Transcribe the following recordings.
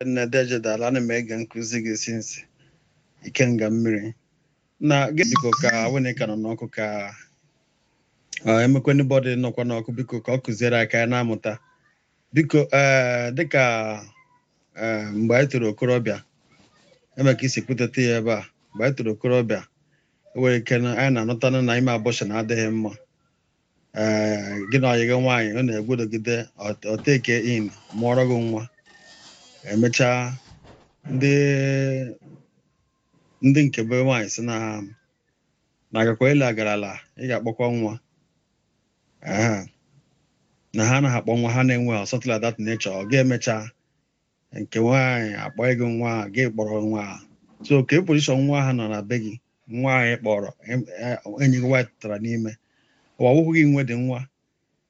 nne deeje daalụ ana m ege nkụzi gị since ikenga mmiri na biko ka wene ka nọ n'ọkụ ka emekwe anybody nọkwa n'ọkụ biko ka ọ kụziere aka ya na-amụta biko ee dịka ee mgbe anyị toro okorobịa enwe ka i si kwuteta ya ebe a mgbe anyị toro okorobịa enwere ike na anyị na-anụtanụ na ime abortion adịghị mma gị na ọyị gị nwaanyị ọ na-egwudogide o take in mụọrọ gị nwa emechaa ndị ndị nke be nwaanyị sị na ha na agakwa ele agarala ị ga-akpọkwa nwa na ha anaghị akpọ nwa ha na-enwe something like that nature ọ ga-emecha nke nwaanyị akpọ gị nwa gị kpọrọ nwa so kee position nwa aha nọ na be gị nwa anyị kpọrọ enyi gị nwaanyị tụtara n'ime ọ wụhụ gị nwe dị nwa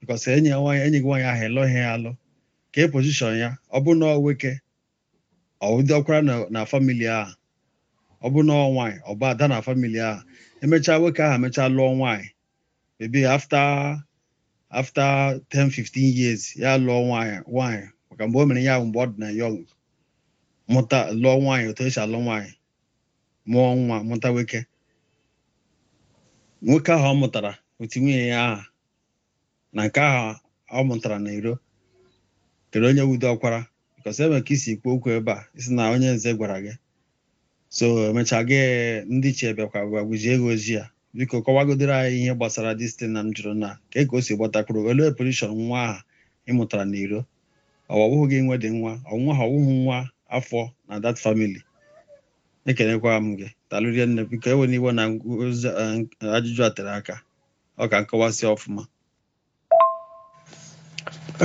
because enyi ya nwaanyị enyi gị nwaanyị ahụ ị lụghị ya alụ kee position ya ọ bụ na nwoke ọ diọkwara na family ahụ ọ bụ na nwaanyị ọ bụ ada na family ahụ emechaa nwoke ahụ emechaa lụọ nwaanyị maybe after 10 15 years ya lụọ nwaanyị maka mgbe o mere ya mgbe ọ dị na young mụta lụọ nwaanyị otu esi alụ nwaanyị mụọ nwa mụta nwoke nwoke ahụ ọ mụtara with nwunye ya aha na nke ahụ ọ mụtara na iro kedụ onye wụ diọkwara because enwere ka i si kwuo okwu ebe a ị sị na onye nze gwara gị so emechaa gị ndị ichie bịakwa gwagwuzie gị ozi ya biko kọwagodoro anyị ihe gbasara distin na m jụrụ na ka ka o si gbatakwuru olee position nwa aha ị mụtara na iro ọ wụhụ gị nwe dị nwa ọ nwa aha ọ wụhụ nwa afọ na that family ekenekwa m gị daalụ rinne biko ewena iwe na ajụjụ a tere aka ọ ka m kọwasịa ọfụma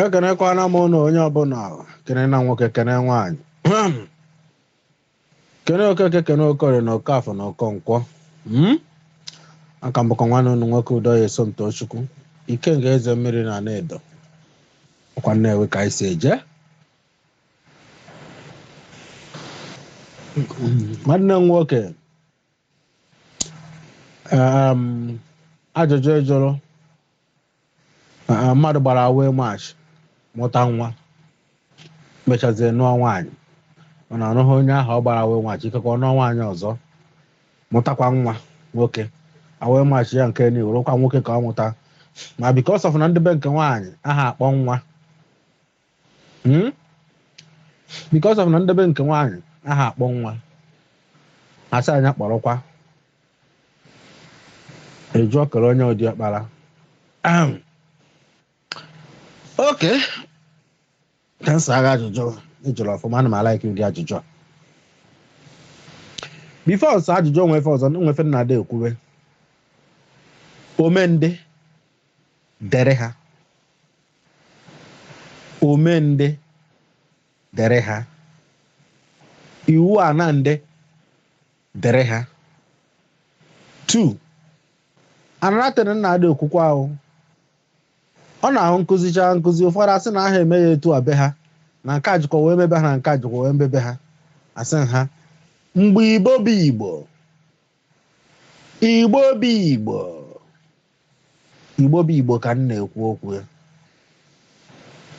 ekenekwana m ụnụ onye ọbụla kene na nwoke kene nwaanyị kene okeke kene okorie na okafọ na okonkwọ mm? a ka m bụkwa nwanne unu nwoke udoye somtochukwu ikenga eze mmiri na anaedo ọkwa nnewi ka anyị si eje nwanne m nwoke um, ajụjụ ị jụrụ mmadụ gbara away match mụta nwa mechazie nụọ nwaanyị mana ọ nụghị onye ahụ ọ gbara away match ikekwa ọ nụọ nwaanyị ọzọ mụtakwa nwa nwoke away match ya nke na iro ọkwa nwoke ka ọ mụta ma because of na ndị be nke nwaanyị aha akpọ nwa because of na ndị be nke nwaanyị aha akpọ nwa asị anya kpọrọkwa eju ọkara onye ụdị ọkpara okay ka m saa gị ajụjụ ị jụrụ ọfụma ana m a-like ụdị ajụjụ a before m saa ajụjụ o nwee ife ọzọ nwefe nna ada ekwuwe omendị dere ha omendị dere ha iwu ana ndị dere ha tu anaratịrị nna adị okwukwe ahụ ọ na-awụ m kụzicha nkụzi ụfọdụ asị na aha eme ya etu a be ha na nke ajụkọ wee mebe ha na nke ajụkọ wee mebe ha asị m ha mgbe igbo bụ igbo Igbo bụ Igbo Igbo bụ Igbo ka m na-ekwu okwu ya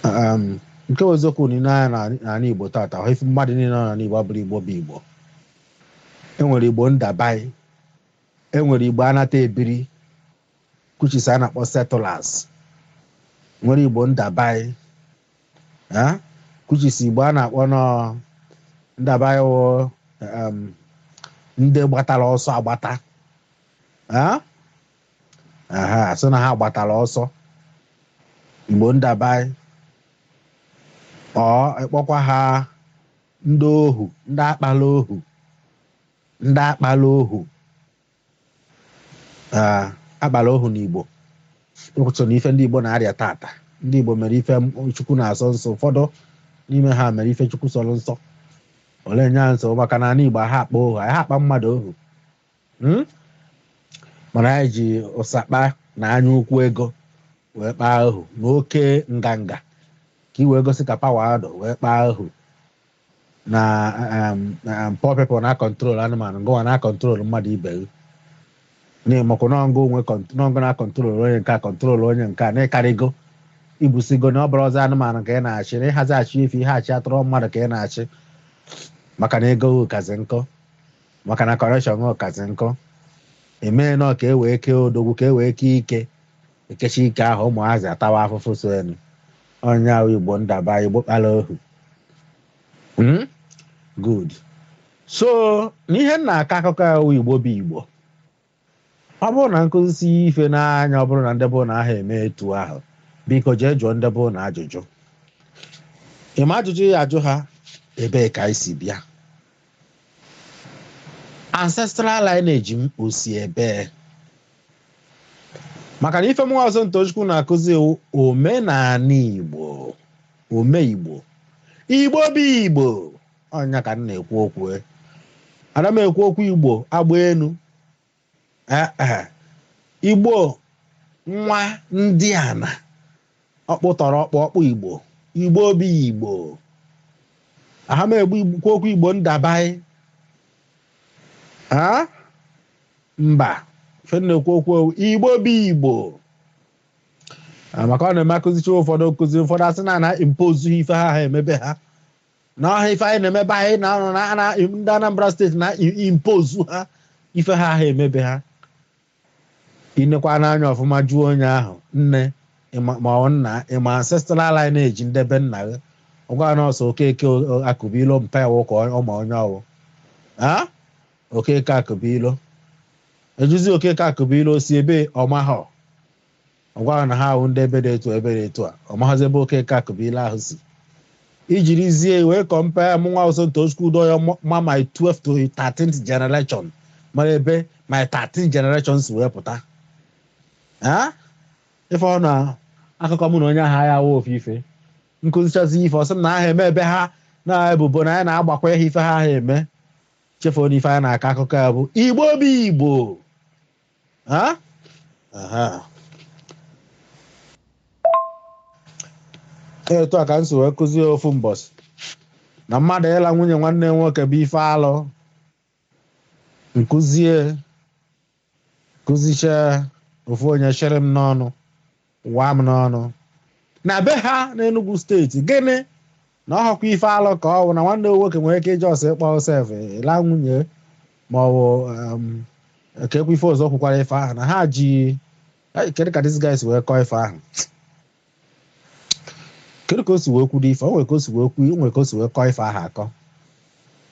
um, nke wụ eziokwu nee anya n'ala Igbo tata ahụ ife mmadụ niile nọ n'ala Igbo abụrọ Igbo bụ Igbo enwere Igbo ndabai enwere Igbo anata ebiri kuchisa a na-akpọ settlers nwere Igbo ndabai Eh? kuchisi igbo a na-akpọnụ ndabai wụ um, ndị gbatara ọsọ agbata Eh? aha asị na ha gbatara ọsọ igbo ndaba or ị kpọkwa ha ndị ohu ndị akpala ohu ndị akpala ohu akpara ohu n'Igbo so na ife ndị Igbo na-arịa tata ndị Igbo mere ife Chukwu na-asọ nsọ ụfọdụ n'ime ha mere ife Chukwu sọrọ nsọ ole nya nsọ maka na ala Igbo ha akpa ohu ha akpa mmadụ ohu hmm? mana anyị ji ụsakpa na anya ukwu ego wee kpaa ohu n'oke nganga ka i wee gosi ka power dụ wee kpaa ohu na um, um, poor people na control anụmanụ ngụwa na control mmadụ ibe gị na-emekwa n'ọngụ onwe kont- n'ọngụ na control onye nke a control onye nke a na ị karịgo ibusigo na ọ bụrọzi anụmanụ ka ị na-achị na ị hazi achị efi ị ha achị atụrụ mmadụ ka ị na-achị maka na ego gị kazi nkọ maka na connection gị kazi nkọ emee nọ ka e wee kee odogwu ka e wee kee ike ekecha ike ahụ ụmụazị atawa afụfụ so enu onye ahụ igbo ndaba igbo kpara ohu hmm? good so n'ihe m na-akọ akụkọ ahụ igbo bụ igbo ọ bụrụ na m kụzisị ife n'anya ọ bụrụ na ndị be unu aha eme etu ahụ biko jee jụọ ndị be unu ajụjụ ị ma ajụjụ ị ya-ajụ ha ebee ka anyị si bịa ancestral lineage m o si ebee maka na ife mụnwa wụ somtochukwu na-akụzi wụ omenala igbo ome igbo igbo bụ igbo ọ ya ka m na-ekwu okwu e. ana m ekwu okwu igbo agba enu Igbo nwadiana ọkpụ tọrọ ọkpụ ọkpụ Igbo Igbo bụ Igbo aha m ekwu okwu Igbo ndabaị mba ife m na-ekwu okwu Igbo bụ Igbo maka ọ na-eme m kụzicha ụfọdụ nkụzi ụfọdụ asị na m na-impose ife ha ha eme be ha na ọhọ ife anyị na-eme be anyị na anọ na na- ndị anambra steeti na-impose ha ife ha ha eme be ha i nekwanụ anya ọfụma jụọ onye ahụ nne ịma- ma ọ nna ịma ancestral lineage nde be nna gị ọ gwa na ọ si okeke o- akụbilo mpa iwu ka ọ ma onye wụ okeke akụbilo a jụzie okeke akụbilo si ebee ọ mahọ ọ gwa na ha wụ ndị ebe dị etu ebe dị etu a ọ maghịzi ebe okeke akụbilo ahụ si i jirizie wee compare mụnwa wụ somtochukwu doyo ma my 12 to 13th generation mara ebe my 13 generation si wee pụta ị fụ na akụkọ mụ na onye ahụ agha awụ ofu ife m kụzichazi ife ọ sị m na aha eme be ha na ebubo na anyị na-agbakwa ihe ife ha ahọ eme chefuo na ife anyị na-akọ akụkọ ya bụ igbo bụ igbo Ha? Aha. etu a ka m si wee kụzie ofu mbọsị na mmadụ ịla nwunye nwanne nwoke bụ ife alụ m kụzie kụzichee ofu onye chere m n'ọnụ Waa m n'ọnụ. Na be ha n'Enugwu steeti, gịnị na ọhọkwa ife alụ ka ọwụ na nwanne nwoke nwere ike ịjọ ọsọ ịkpọ sef ịla nwunye ma ọ bụ keekwa ife ọzọ o kwukwara ife ahụ na ha ji kedu ka this guy si wee kọọ ife ahụ kedu ka o si wee kwudo ife o nwere ka o si wee kwu o nwere ka o si wee kọọ ife ahụ akọ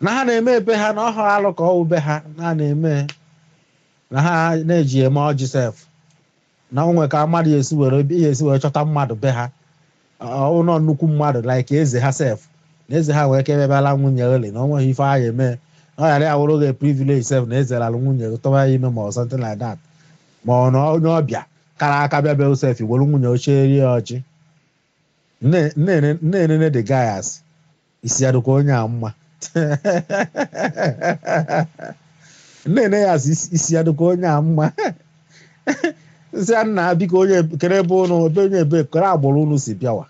na ha na-eme be ha na ọhọ alụ ka ọwụ be ha na na-eme na ha na-eji eme ọjị sef na o nwe ka mmadụ esi wee ya-esi wee chọta mmadụ be ha ụlọ nnukwu mmadụ like eze ha sef na eze ha nwee ike bịa laa nwunye oli na onweghị ife ị ya-eme na ọ ghara ya wụrụ gị privilege sef na eze lalụ nwunye gị tọwa ya ime ma ọ something like that ma ọ na onye ọbịa kara aka bịa be sef were nwunye cheere ya ọjị na-enene the guy asị isi ya dịkwa onye a mma na-ene ya asị isi ya dịkwa onye a mma m sị ya nna biko onye kere ebe ụnụ ebe onye ebe kere agbụrụ ụnụ si bịawa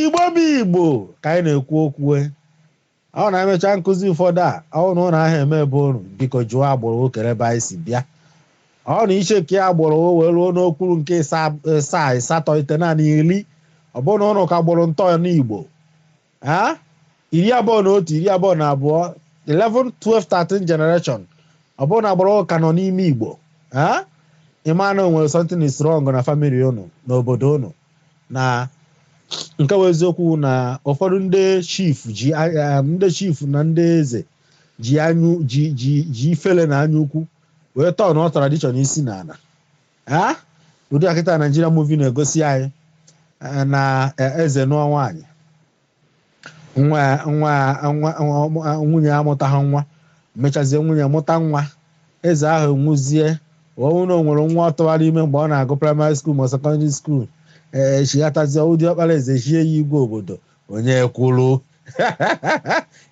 igbo bụ igbo ka anyị na-ekwu okwu Ọ bụrụ na anyị mechaa nkụzi ụfọdụ a, ọ bụrụ na ụnụ ahụ eme ebe ụnụ, biko jụọ agbụrụ kere ebe anyị si bịa. Ọ bụrụ na i chekie agbụrụ wee ruo n'okpuru nke ịsa- ịsaa asatọ itenaanị iri ọ bụrụ na ụnụ ka gbụrụ ntọ n'Igbo ha iri abụọ na otu iri abụọ na abụọ 11 12 13 generation ọ bụrụ na agbụrụ ka nọ n'ime Igbo ha ị ma na o nwere something is wrong na family ụnụ n'obodo ụnụ na nke bụ eziokwu na ụfọdụ ndị chief ji ndị chief na ndị eze ji anyị ji ji ji ifele na anya ukwu wee tọọ nụ tradition isi n'ana ee ụdị a kịta Nigeria movie na-egosi anyị na eze nụọ nwaanyị nwa ya- nwa ya- nwa nwa- nwunye ya amụtaghị nwa mechazie nwunye mụta nwa eze ahụ nwụzie ọ bụrụ na o nwere nwa ọ tụwara ime mgbe ọ na-agụ primary school ma secondary school ee chighatazie diọkpara eze chie ya igwe obodo onye kwuru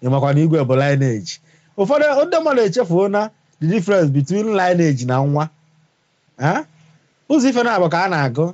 ị makwa na igwe bụ lineage ụfọdụ ndị mmadụ echefuo na the difference between lineage na nwa Eh? ụzọ ife naabọ ka a na-agụ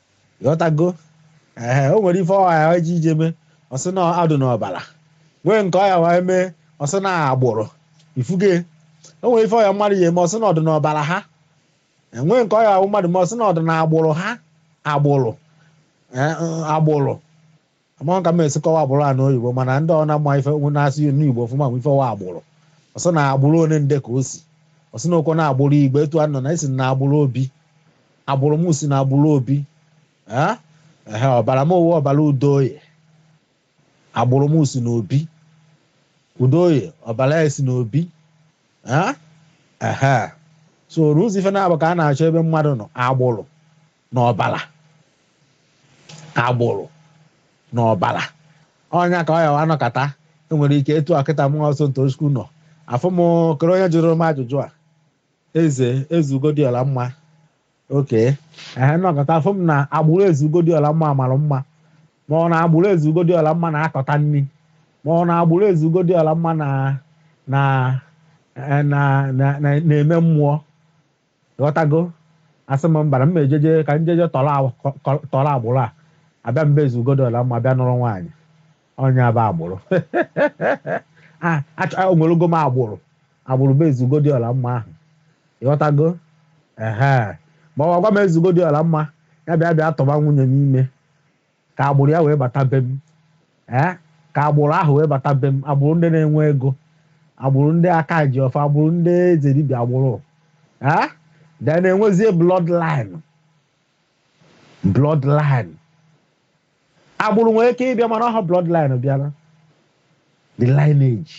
ghọtago ee o nwere ife ọ wa ji eje mee ọ sị na ọ dụ n'ọbara nwee nke ọ ya wa mee ọ sị na agbụrụ ị fụge o nwere ife ọ ya mmadụ ya-eme ọ sị na ọ dụ n'ọbara ha e nwee nke ọ ya mmadụ mee ọ sị na ọ dụ na agbụrụ ha agbụrụ agbụrụ Amaghị ka m esi kọwa agbụrụ a n'oyibo mana ndị ọ na ma ife na-asụ n'Igbo ọfụma ma ife wụ agbụrụ. Ọ sị na agbụrụ onye nde ka o si. Ọ sị na ọ kwa na agbụrụ Igbo etu a nọ na e si na agbụrụ Obi. Agbụrụ m si na agbụrụ Obi. Ee, ehe, ọbara m wụ ọbara Udoye. Agbụrụ m si na Obi. Udoye, ọbara ya si na Obi. Ee, ehe. So ụzọ ife naabọ ka a na-achọ ebe mmadụ nọ agbụrụ. na ọbara agbụrụ na ọbara ọ nya ka ọ ya wa nọkata e nwere ike etu a kịta mụwa Sọmtochukwu nọ afụ m kere onye jụrụ m ajụjụ a eze eze Ugodiọlamma okay ehe nọkata afụ m na agbụrụ eze Ugodiọlamma mara mma mara na agbụrụ eze Ugodiọlamma na-akọta nri mara na agbụrụ eze Ugodiọlamma na na na na- na- na-eme mmụọ Ghọtago? Asị m mbara m ejeje ka m jeje tọrọ agbụrụ a abịa m be eze Ugodiọlamma bịa nụrụ nwaanyị ọ nya bụ agbụrụ enwerego m agbụrụ agbụrụ be eze Ugodiọlamma ahụ ị ghọtago ehe ma ọ gwa m eze Ugodiọlamma ya bịa bịa tụba nwunye m ime ka agbụrụ ya wee bata be m ee ka agbụrụ ahụ wee bata be m agbụrụ ndị na-enwe ego agbụrụ ndị aka ji ọfọ agbụrụ ndị eze dibịa agbụrụ ee then enwezie bloodline bloodline agbụrụ nwere ike ịbịa mana ọ ha bloodline bịara the lineage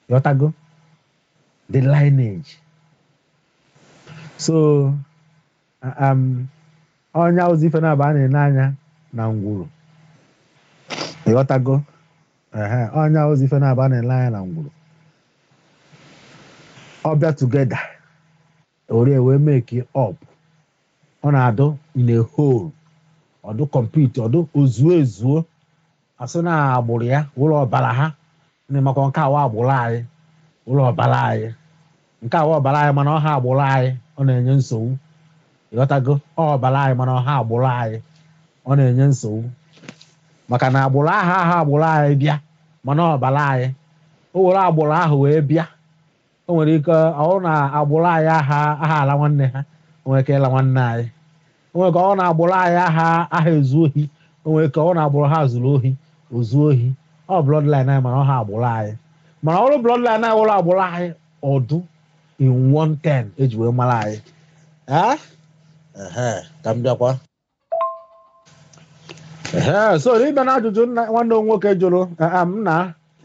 ịghọtago the lineage so ọ nya wụzi ife na-aba a na-ene anya na ngwuru ịghọtago ọ nya wụzi ife na-aba a na-ele anya na ngwuru ọ bịa together orie wee make up ọ na-adụ in a whole ọ dụ complete ọ dụ o zuo ezuo a sị na agbụrụ ya wụrụ ọbara ha na ị makwa nke a wụ agbụrụ anyị wụrụ ọbara anyị nke a wụ ọbara anyị mana ọ ha agbụrụ anyị ọ na-enye nsogbu ịghọtago ọ ọbara anyị mana ọ ha agbụrụ anyị ọ na-enye nsogbu maka na agbụrụ aha aha agbụrụ anyị bịa mana ọbara anyị o were agbụrụ ahụ wee bịa o nwere ike ọ wụrụ na agbụrụ anyị aha aha ala nwanne ha o nwere ike ịla nwanne anyị o nwere ike ọ wụrụ na agbụrụ anyị aha aha ezu ohi o nwere ike ọ wụ na agbụrụ ha zuru ohi o zuo ohi ọ bloodline anyị mana ọ ha agbụrụ anyị mana ọ wụrụ bloodline anyị wụrụ agbụrụ anyị ọ dụ in one thing eji wee mara anyị ee ehe ka m bịakwa Ee, so ịbịa na ajụjụ nwanne m nwoke jụrụ eh, ah, m na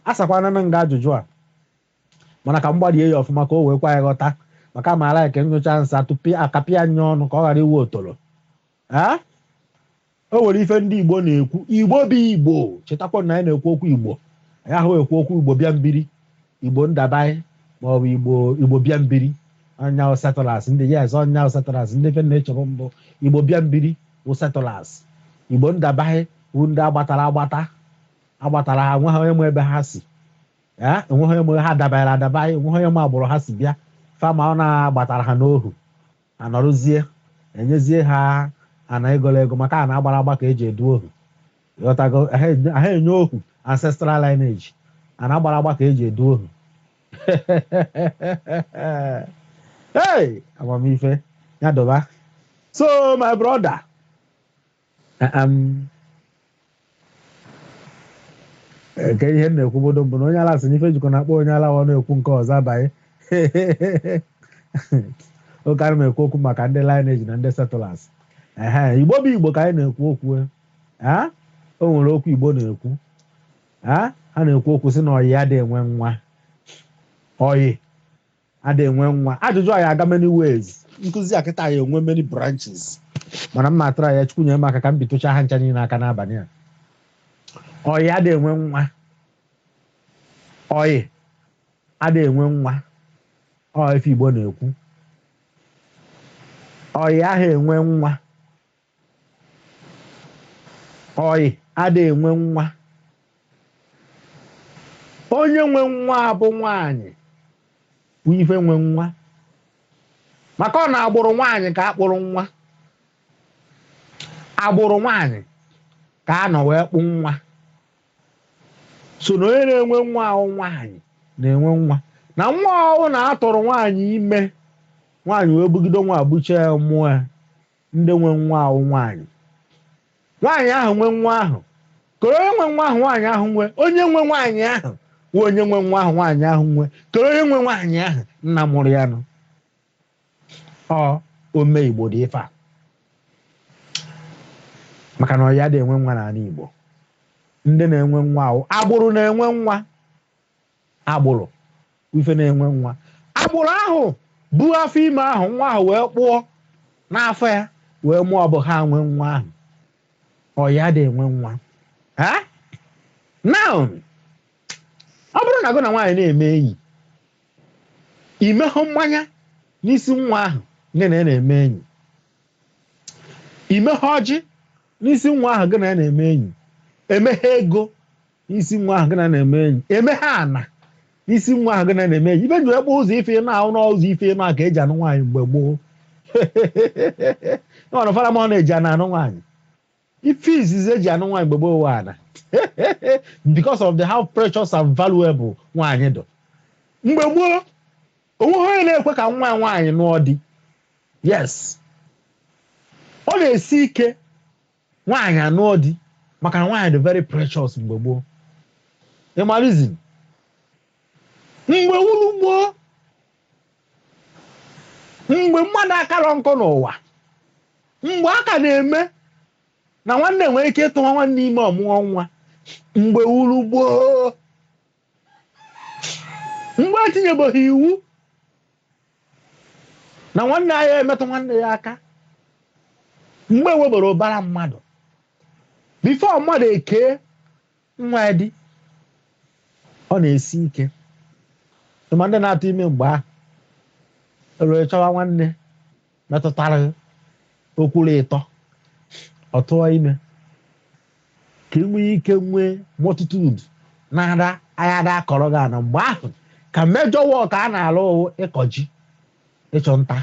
asakwana m nga ajụjụ a mana ka m gbarie ya ọfụma ka o wee kwe anyị ghọta maka amaara ya ka nyụchaa nsị tupu akapịa ya ọnụ ka ọ ghara ịwụ otoro Eh? o nwere ife ndị igbo na-ekwu igbo bụ igbo chetakwa na anyị na-ekwu okwu igbo anyị aha ekwu okwu igbo bịa mbiri Igbo ndabaị maọbụ Igbo Igbo bịa mbiri ọ nya wụ settlers ndị yes ọ nya wụ settlers ndị fe na-echọbụ mbụ Igbo bịa mbiri wụ settlers Igbo ndabaị bụ ndị agbatara agbata agbatara ha nweghị onye ma ebe ha si ee enweghị onye ma ha dabaịrị adabaị enweghị onye ma agbụrụ ha si bịa ife a ma ọ na agbatara ha n'ohu anọrụzie enyezie ha ana egoro ego maka ana agbara agba ka eji edu ohu ịghọtago aha enye ohu ancestral lineage ana agbara agba ka eji edu ohu hey amamife ya dụba so my brother Aam. Ee, Ka ihe m na-ekwubudu mbụ na onye ala sị na ife jikọ na-akpọ onye ala ọ na-ekwu nke ọzọ abaị okay ana m ekwu okwu maka ndị lineage na ndị settlers ehe igbo bụ igbo ka anyị na-ekwu okwu e. Ah, o nwere okwu igbo na-ekwu Ah, ha na-ekwu okwu sị na ọyị adị enwe nwa ọyị ada enwe nwa ajụjụ a ya aga many ways nkụzi a kịta ya enwe many branches mana m ma atry ya chukwu nye m aka ka m bitụcha ha ncha niile aka n'abalị a ọyị ada enwe nwa ọyị ada enwe nwa ọ ife igbo na-ekwu ọyị aha enwe nwa ọyị ada enwe nwa onye nwe nwa bụ nwaanyị bụ ife nwe nwa maka ọ n'agbụrụ nwaanyị ka a kpụrụ nwa agbụrụ nwaanyị ka a nọ wee kpụ nwa so na onye na-enwe nwa wụ nwaanyị na-enwe nwa na nwa ọ wụ na a tụrụ nwaanyị ime nwaanyị wee bugide nwa buchaa mụọ ya Ndị nwe nwa wụ nwaanyị. Nwaanyị ahụ nwe nwa ahụ. Kedu onye nwe nwa ahụ nwaanyị ahụ nwe. Onye nwe nwaanyị ahụ wụ onye nwe nwa ahụ nwaanyị ahụ nwe. Kedu onye nwe nwaanyị ahụ nna mụrụ ya nụ. Ọ ome Igbo dị ife a. Maka na ọyị adị enwe nwa n'ana Igbo. Ndị na-enwe nwa wụ agbụrụ na-enwe nwa. agbụrụ bụ ife na-enwe nwa agbụrụ ahụ bu afọ ime ahụ nwa ahụ wee kpụọ n'afọ ya wee mụọ ọ bụ ha nwe nwa ahụ ọyị adị enwe nwa now ọ bụrụ na gụ na nwaanyị na-eme enyi imeha mmanya n'isi nwa ahụ gị na ya na-eme enyi imeha ọjị n'isi nwa ahụ gị na ya na-eme enyi imeha ego isi nwa ahụ gị na na-eme enyi imeha ana n'isi nwa ahụ gị na na-eme enyi ibe nji ekpe ụzọ ife ịnọ ahụ na ụzọ ife ịnọ ahụ ka eji anụ nwaanyị mgbe gboo ọnụ fara ma ọ na-eji ana anụ nwaanyị ife izizi eji anụ nwaanyị mgbe gboo wụ ana because of the how precious and valuable nwaanyị dụ mgbe gboo onweghị onye na-ekwe ka nwa nwaanyị nụọ di yes ọ na-esi ike nwaanyị anụọ di maka na nwaanyị dị very precious mgbe gboo ịmalizin mgbe wuru gboo mgbe mmadụ akarọ nkọ n'ụwa mgbe a ka na-eme na nwanne nwere ike ịtụwa nwanne ime ọ mụọ nwa mgbe wuru gboo mgbe etinyebeghi iwu na nwanne aya emetụ nwanne ya aka mgbe enweberọ ụbara mmadụ before mmadụ ekee nwa ya di ọ na-esi ike ma ndị na-atụ ime mgbe ahụ ewere chọwa nwanne metụtara okwuru ịtọ ọ tụọ ime ka ị nwee ike nwee multitude ndị ya na-akọrọ gị ana mgbe ahụ ka major work a na-alụ wụ ịkọ ji ịchụ nta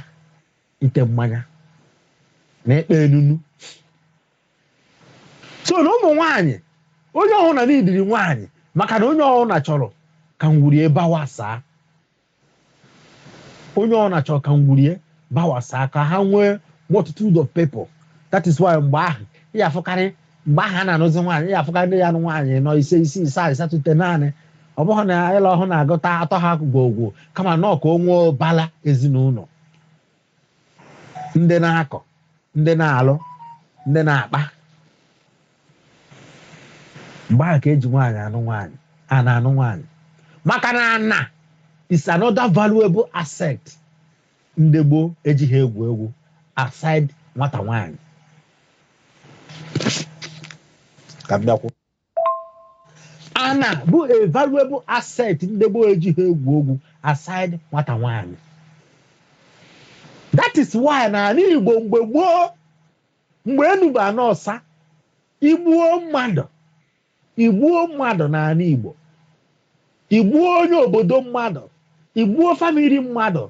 ite mmanya na ịkpa enunu so na ụmụ nwaanyị onye ọwụna n'idiri nwaanyị maka na onye ọwụna chọrọ ka ngwuru ya bawasaa onye ọ na-achọ ka ngwuru ya bawasaa ka ha nwee multitude of people that is why mgbe ahụ ị ya-afụkarị mgbe ahụ a na-anụzi nwaanyị ị ya-afụkarị ndị ya-anụ nwaanyị anọ ise isii asaa asatọ itenaanị ọ bụghị na ịla ọhụ na-agụta atọ ha gwogwo kama na ọ ka o nwee bala ezinụlọ ndị na-akọ ndị na-alụ ndị na-akpa mgbe ahụ ka e ji nwaanyị anụ nwaanyị a na-anụ nwaanyị maka na ana is another valuable asset ndị gboo ejighị egwu egwu aside nwata nwaanyị ka m bịakwu ana bụ a valuable asset ndị gboo ejighị egwu egwu aside nwata nwaanyị that is why na ala Igbo mgbe gboo mgbe enu bụ ana ọsa i gbuo mmadụ i gbuo mmadụ n'ala Igbo I gbuo onye obodo mmadụ, i gbuo family mmadụ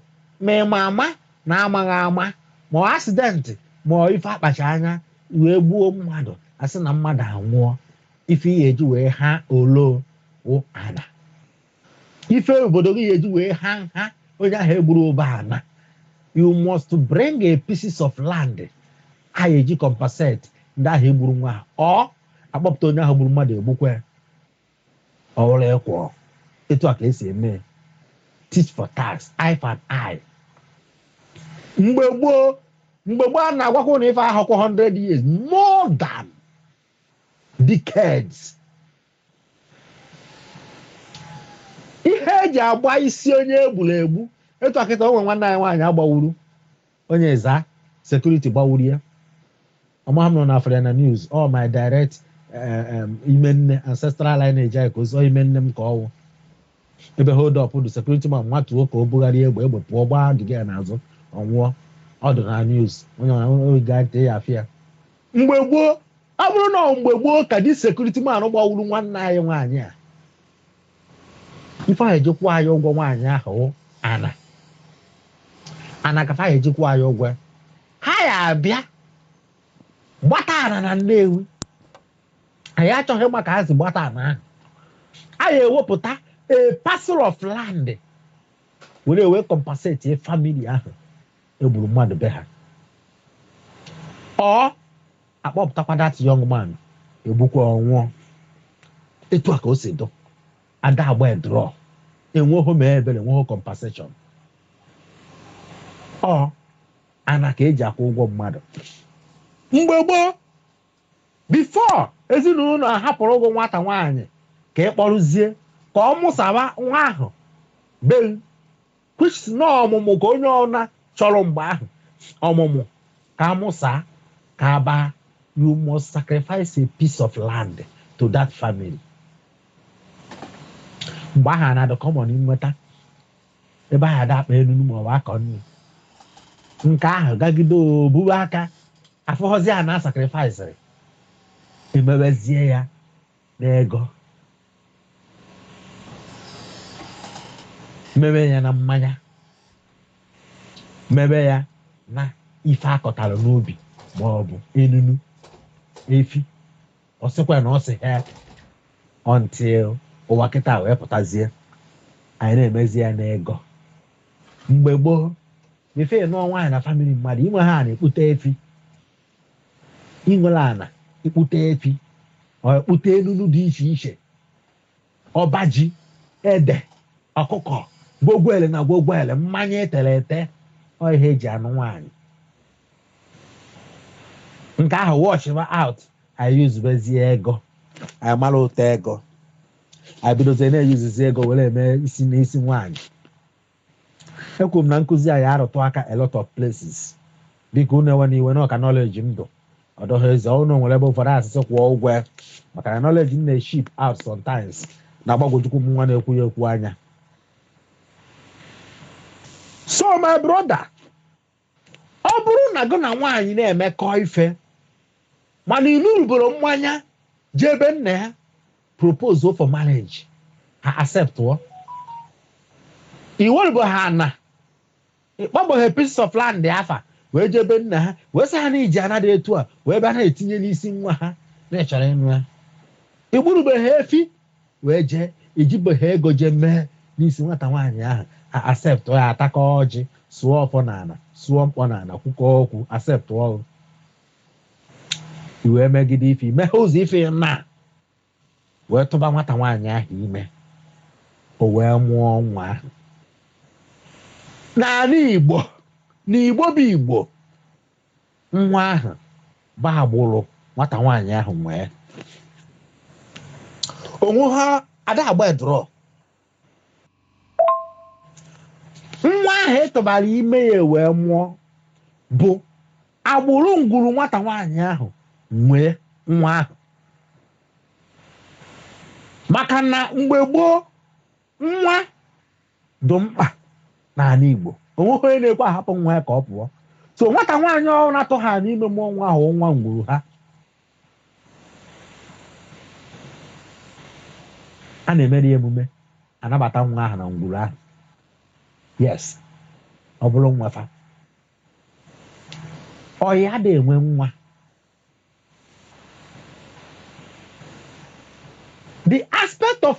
ma ị ma ama na amaghị ama, ma ọ accident ma ọ ife a kpacha anya wee gbuo mmadụ a sị na mmadụ anwụọ, ife ị ga-eji wee ha olo wụ ana. Ife obodo gị ga-eji wee ha nha onye ahụ e gburu bụ ana. You must bring a pieces of land a ga-eji compensate ndị ahụ e gburu nwa ha. Or a kpọpụta onye ahụ gburu mmadụ e gbukwee. ọ wụrụ equal etu a ka e si eme tit for tat eye for eye mgbe gboo mgbe gboo a na-agwakwa unu ife ahụkwa 100 years more than decades ihe e ji agba isi onye e gburu egbu etu a kịta o nwe nwanne anyị nwaanyị a gbawuru onye za security gbawuru ya amaghị m ma unu afụrụ ya na news ọ my direct eh, em, ime nne ancestral lineage anyị ka o si ọ ime nne m ka ọ wụ ebe hold up dụ security man nwatụọ ka o bugharịa egbe egbe pụọ gbaa the girl n'azụ ọ nwụọ ọ dị na news onye ọrụ gaa net ị ya-afụ ya mgbe gboo ọ bụrụ na ọ mgbe gboo ka the security man gbawuru nwanne anyị nwaanyị a ife a ya eji kwụọ ya ụgwọ nwaanyị ahụ ana ana ka fa ya eji kwụọ ya ụgwọ ha ya abịa gbata ana na Nnewi anyị achọghị ịma ka ha si gbata ana ahụ a ya ewepụta a parcel of land were wee compensate family ahụ egburu mmadụ be ha or akpọpụtakwa that young man egbukwa ọ nwụọ etu a ka o si dụ ada agba draw enweghị ma ebere enweghị compensation ọ ana ka eji akwụ ụgwọ mmadụ mgbe gboo before ezinụlọ ahapụrụ gụ nwata nwaanyị ka ị kpọrụzie ka ọ mụsaba nwa ahụ be kwesịrị na ọmụmụ ka onye ọna chọrọ mgbe ahụ ọmụmụ ka amụsa ka abaa you must sacrifice a piece of land to that family mgbe ahụ ana dị common inweta ebe ahụ ada akpa enunu ma ọ bụ akọ nri nke ahụ gagide obuwe aka afụghọzi ana sacrifice emewezie ya n'ego mebe ya na mmanya mebe ya na ife akọtara n'ubi ma ọ bụ enunu efi ọ sịkwa na ọ sị ha until ụwa kịta wee pụtazie anyị na-emezi ya n'ego mgbe gboo before ị nụọ nwaanyị na family mmadụ i nweghị ana ị kpụte efi ị nwere ana ị kpụta efi or ị kpụta enunu dị iche iche ọba ji ede ọkụkọ gwogwele na gwogwele mmanya etere ete ọ ihe eji anụ nwaanyị nke ahụ washịba out anyị usebezie ego anyị mara ụtọ ego anyị bidozie na-eusezi ego were eme isi n'isi nwaanyị ekwuru m na nkụzi a ya arụtụ aka a lot of places biko unu ewene iwe na ọ ka knowledge m dụ ọ dọghị eze ọnụ nwere ebe ụfọdụ a sị sị kwụọ ụgwọ ya maka na knowledge m na-eship out sometimes na-agbagwojukwu m nwa na-ekwu ya ekwu anya so my brother ọ bụrụ na gị na nwaanyị na-emekọ ife mana i buruboro mmanya jee ebe nna ya propose for marriage ha acceptụọ i werubeghị ana ị kpọbụghị pieces of land afa wee jee ebe nna ha wee sị ha na i ji ana dị etu a wee bịa na-etinye n'isi nwa ha na ị chọrọ ịnụ ya i gburubeghị efi wee jee ejibeghị ego jee mee n'isi nwata nwaanyị ahụ acceptụọ ya atakọ ọjị sụọ ọfọ n'ala sụọ mkpọ n'ala kwukọ okwu acceptụọ i wee megide ife i meghe ụzọ ife na wee tụba nwata nwaanyị ahụ ime o wee mụọ nwa ahụ n'ala Igbo na Igbo bụ Igbo nwa ahụ bụ agbụrụ nwata nwaanyị ahụ nwe onwe ha ada agba edrọ nwa ahụ a tụbara ime ya wee mụọ bụ agbụrụ ngwuru nwata nwaanyị ahụ nwe nwa ahụ maka na mgbe gboo nwa dị mkpa n'ala Igbo o nweghị onye na-ekwe ahapụ nwa ya ka ọ pụọ so nwata nwaanyị ọ bụrụ na-atụ ha n'ime mụọ nwa ahụ nwa ngwuru ha a na-emere ya emume anabata nwa ahụ na ngwuru ahụ yes ọ bụrụ nwa fa ọ ya ada enwe nwa the aspect of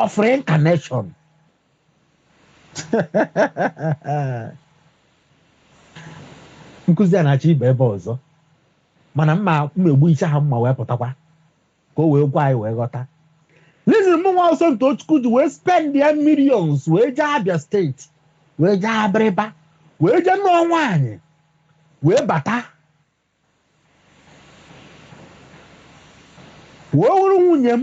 of reincarnation nkụzi a na-achọ ịba ebe ọzọ mana m ma egbuchi ya m ma ewepụtakwa ka o wee gwa anyị wee ghọta listen mụ nwa wụ Somtochukwu ji wee spendịa millions wee jee Abia state wee jee Abịrịba wee jee nụọ nwaanyị wee bata wee wụrụ nwunye m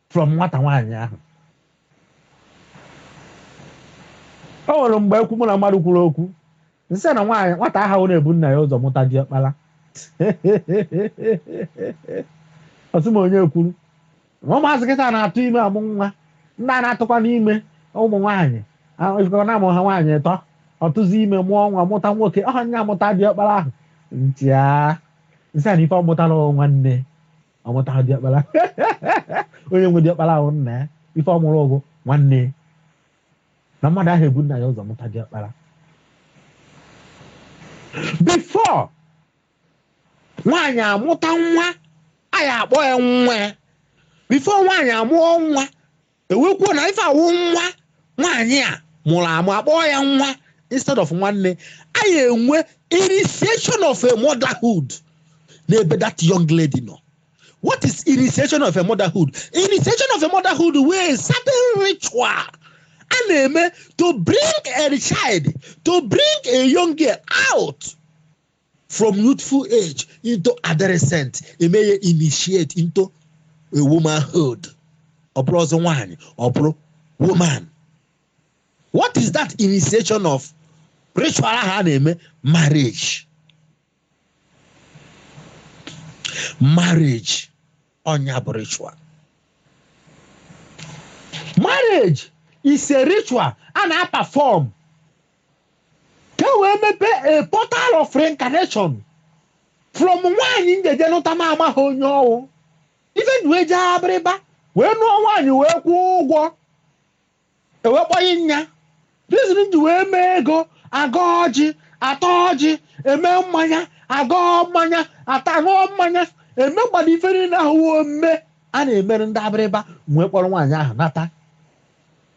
from nwata nwaanyị ahụ o nwere mgbe ekwu mụ na mmadụ kwuru okwu m sị na nwaanyị nwata aha na-ebu nna ya ụzọ mụta diọkpara ọ sị m onye kwuru na ụmụazị kịta na-atụ ime amụ nwa ndị a na-atụkwa n'ime ụmụ nwaanyị na-amụ ha nwaanyị ịtọ ọ tụzie ime mụọ nwa mụta nwoke ọha nya mụta diọkpara ahụ m chịa m sị ya na ife ọ mụtara nwanne ọ mụtaghị diọkpara onye nwe diọkpara ahụ nna ya ife ọ mụrụ bụ nwanne ya na mmadụ aha ebu nna ya ụzọ mụta diọkpara before nwaanyị amụta nwa anyị akpọọ ya nwa ya before nwaanyị amụọ nwa e wee kwuo na ife a wụ nwa nwaanyị a mụrụ amụ akpọọ ya nwa instead of nwanne anyị enwe initiation of a motherhood n'ebe that young lady nọ what is initiation of a motherhood initiation of a motherhood wụ a certain ritual a na-eme to bring a child to bring a young girl out from youthful age into adolescent e mee ya initiate into a womanhood ọ bụrụ ọzọ nwaanyị ọ bụrụ woman what is that initiation of ritual ahụ a na-eme marriage marriage ọ nya bụ ritual marriage is a ritual a na-aperform ka e wee mepee a portal of reincarnation from nwaanyị m ga-eje nụta m amaha onye ọ wụ ife m ji wee jee Abiriba wee nụọ nwaanyị wee kwụọ ụgwọ e wee kpọnye nya reason m ji wee mee ego a gọọ ọjị a taa ọjị e mee mmanya a gọọ mmanya a taa ṅụọ mmanya e megbado ife niile ahụ wụ omume a na-emere ndị Abiriba wee kpọrọ nwaanyị ahụ nata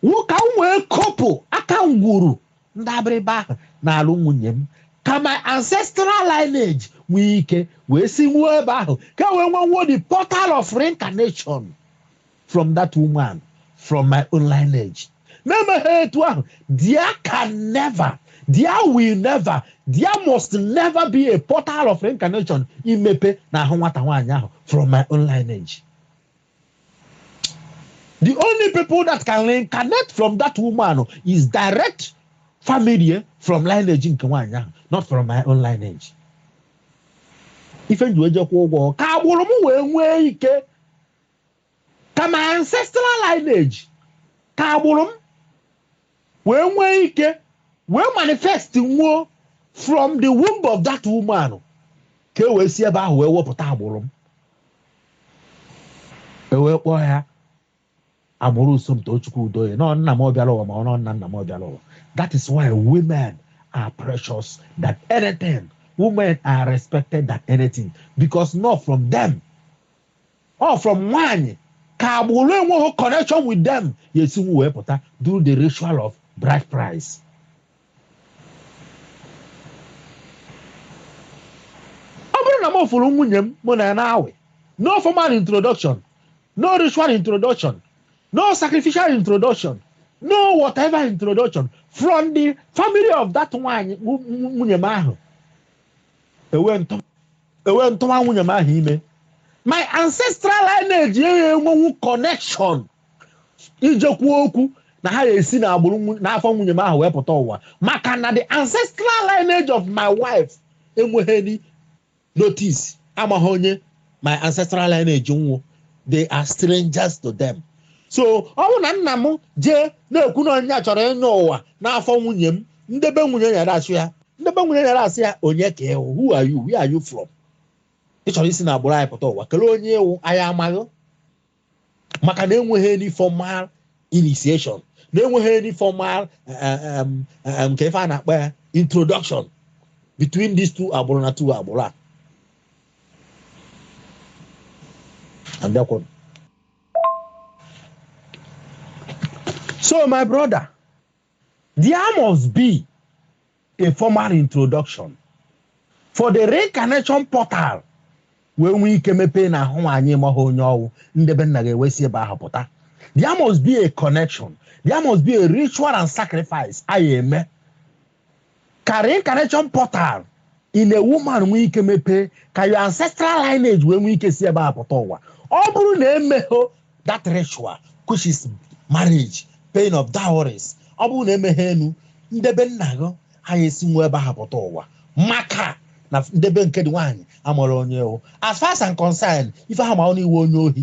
Wụ ka m wee kọpụ aka ngwuru ndị Abiriba ahụ n'alụ nwunye m, ka my ancestral lineage nwee ike wee sinwuo ebe ahụ, ka e wee nwenwuo the portal of reincarnation from that woman, from my own lineage. M emeghị etu ahụ, there can never, there will never, there must never be a portal of reincarnation imepe n'ahụ nwata nwaanyị ahụ from my own lineage. The only people that can reincarnate from that woman is direct family eh, from lineage nke nwaanyị ahụ not from my own lineage. Ife m ji wee jee kwụa ụgwọ ka agbụrụ m wee nwee ike ka my ancestral lineage ka agbụrụ m wee nwee ike wee manifest nwuo from the womb of that woman ka e wee si ebe ahụ wee wepụta agbụrụ m e wee kpọọ ya agbụrụ Somtochukwu Udoye na ọ nna m ọ bịara ụwa ma ọ na ọ nna nna m ọ bịara ụwa that is why women are precious than anything women are respected than anything because na ọ from them Ọ from nwaanyị ka agbụrụ enweghị connection with them ya-esinwu wee pụta during the ritual of bride price. Ọ bụrụ na m fụrụ nwunye m mụ na ya na-awị, no formal introduction, no ritual introduction, no sacrificial introduction, no whatever introduction from the family of that nwaanyị nwunye m ahụ, ewee m tụ ewee m tụwa nwunye m ahụ ime my ancestral lineage ya enwenwu connection ije kwuo okwu na ha ga-esi n'agbụrụ n'afọ nwunye m ahụ wee pụta ụwa maka na the ancestral lineage of my wife enweghị any notice amaghị onye my ancestral lineage wụ they are strangers to them so ọ bụ na nna m jee na-ekwu na nya chọrọ ịnyọ ụwa n'afọ nwunye m ndị be nwunye ya dachi ya ndị be nwunye ya asị ya onye ka ị wụ who are you where are you from ị chọrọ isi n'agbụrụ anyị pụta ụwa kelee onye ị wụ anyị amaghị maka na enweghị any formal initiation na enweghị any formal eh, eh, nke ife a na-akpọ ya introduction between these two agbụrụ na two agbụrụ a so my brother There must be a formal introduction for the reincarnation portal wee nwee ike mepee n'ahụ nwaanyị maghị onye ọ wụ ndị be nna gị ewee si ebe ahụ pụta there must be a connection there must be a ritual and sacrifice a ya-eme ka reincarnation portal in a woman nwee ike mepee ka your ancestral lineage wee nwee ike si ebe a pụta ụwa ọ bụrụ na emeghị that ritual which is marriage paying of dowries ọ bụrụ na emeghị enu ndebe nna gị aya esinwu ebe ahụ pụta ụwa maka na ndebe nke dị nwaanyị amarọ onye ị wụ as far as I'm concerned ife ha ma wụ na ị wụ onye ohi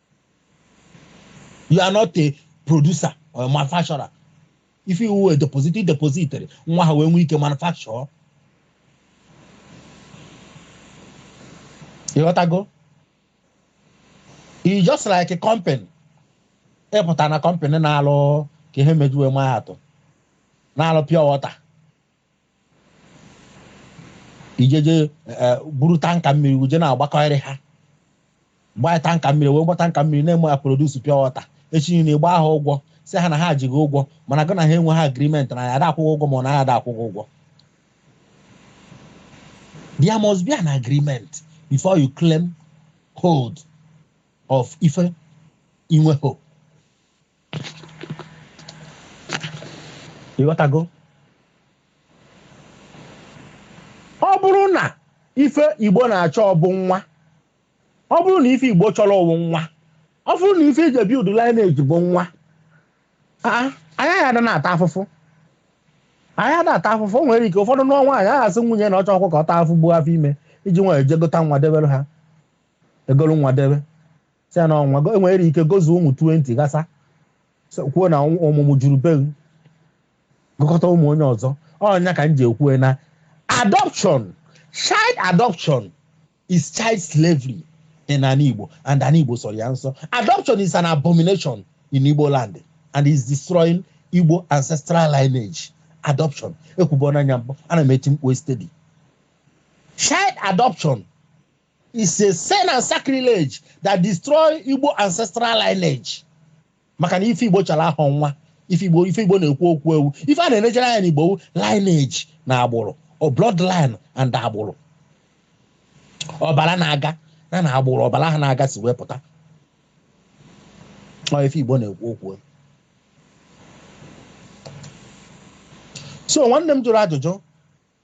you are not a producer or a manufacturer ife ị wụ wụ deposit depositor nwa ha wee nwee ike manufacture ịghọtago it's just like a company ị pụta na company na-alụ ka ihe m ji wee ma atụ na-alụ pure water ị jeje e, buru tanker mmiri uje na-agbakọrị ha gbaa tanker mmiri wee gbata tanker mmiri na-eme ya produce pure water echi na ịgba ha ụgwọ sị ha na ha ji gị ụgwọ mana gị na ha enwehọ agreement na ya ada akwụ gị ụgwọ ma ọ na ya ada akwụ gị ụgwọ there must be an agreement before you claim hold of ife ị nwehọ ịghọtago ọ bụrụ na ife igbo na-achọ bụ nwa ọ bụrụ na ife igbo chọrọ wụ nwa ọ bụrụ na ife e ji build lineage bụ nwa anyị ya ada na-ata afụfụ anyị ada ata afụfụ o nwere ike ụfọdụ nụọ nwaanyị ha asị nwunye na ọ chọhọkwa ka ọ taa afụfụ buo afọ ime iji nwa e jee gota nwa debere ha e golu nwa debe sị ya na ọ nwa go- e nwere ike gozuo ụmụ 20 ghasa so- kwuo na ọnwụ- ọmụmụ juru be m. gokọta ụmụ onye ọzọ ọ ya ka m ji ekwu na adoption child adoption is child slavery n'ana Igbo and ana Igbo sọrọ ya nsọ adoption is an abomination in Igbo land and is destroying Igbo ancestral lineage adoption ekwugo m ya mbụ ana m eti mkpu steady child adoption is a sin and sacrilege that destroy Igbo ancestral lineage maka na ife Igbo chara ahụ nwa ife Igbo ife Igbo na-ekwu okwu e wụ ife a na-enejere anya n'Igbo wụ lineage na agbụrụ or bloodline and agbụrụ ọbara na-aga na na agbụrụ ọbara ha na-aga si wee pụta ọ ife Igbo na-ekwu okwu so nwanne m jụrụ ajụjụ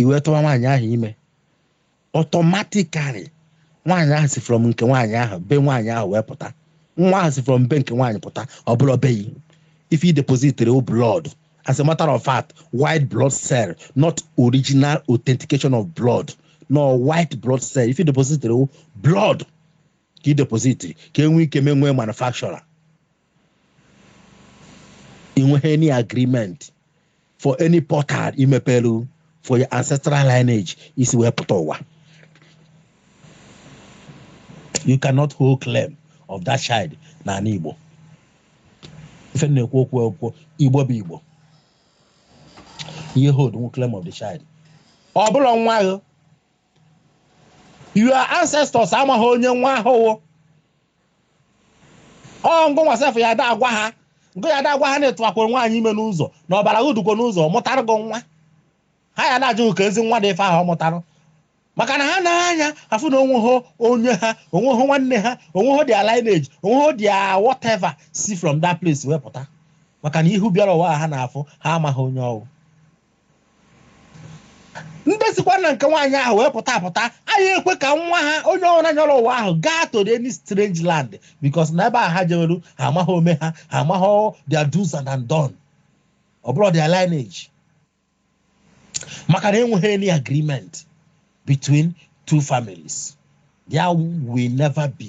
i wee tụwa nwaanyị ahụ ime automatically nwaanyị ahụ si from nke nwaanyị ahụ be nwaanyị ahụ wee pụta nwa ahụ si from be nke nwaanyị pụta ọ bụla be gị ife i depositiri ọ blood as a matter of fact white blood cell not original authentication of blood no white blood cell ife i depositiri ọ blood ka ị depositiri ka enwee ike mee wee manufacture ị nweghị any agreement for any portal i mepelu for your ancestral lineage isi wee pụta ụwa you cannot hold claim of that child n'ala Igbo ife na-ekwu okwu okwu Igbo bụ Igbo ihe hold nwe claim of the child ọ bụla nwa ahụ your ancestors amaghị onye nwa ahụ wụ ọ ngụ nwa sef ya da-agwa ha ngụ ya da-agwa ha na ị tụwakwuru nwaanyị ime n'ụzọ na ọbara gị dukwo n'ụzọ mụtara gị nwa ha ya na-ajụ ka ezi nwa dị ife ahụ ọ mụtara maka na ha nee anya afụ na o nweho onye ha o nweho nwanne ha o nweho their lineage o nweho their whatever si from that place wee pụta maka na ihu bịara ụwa ha na-afụ ha amaghị onye ọ wụ ndị sikwa na nke nwaanyị ahụ wee pụta apụta ayaghị ekwe ka nwa ha onye ọbụla nyọrọ ụwa ahụ gaa to the any strange land because na ebe a ha jewelu ha amaghị ome ha ha amaghị their do's and undone ọ bụla their lineage maka na enweghị any agreement between two families there will never be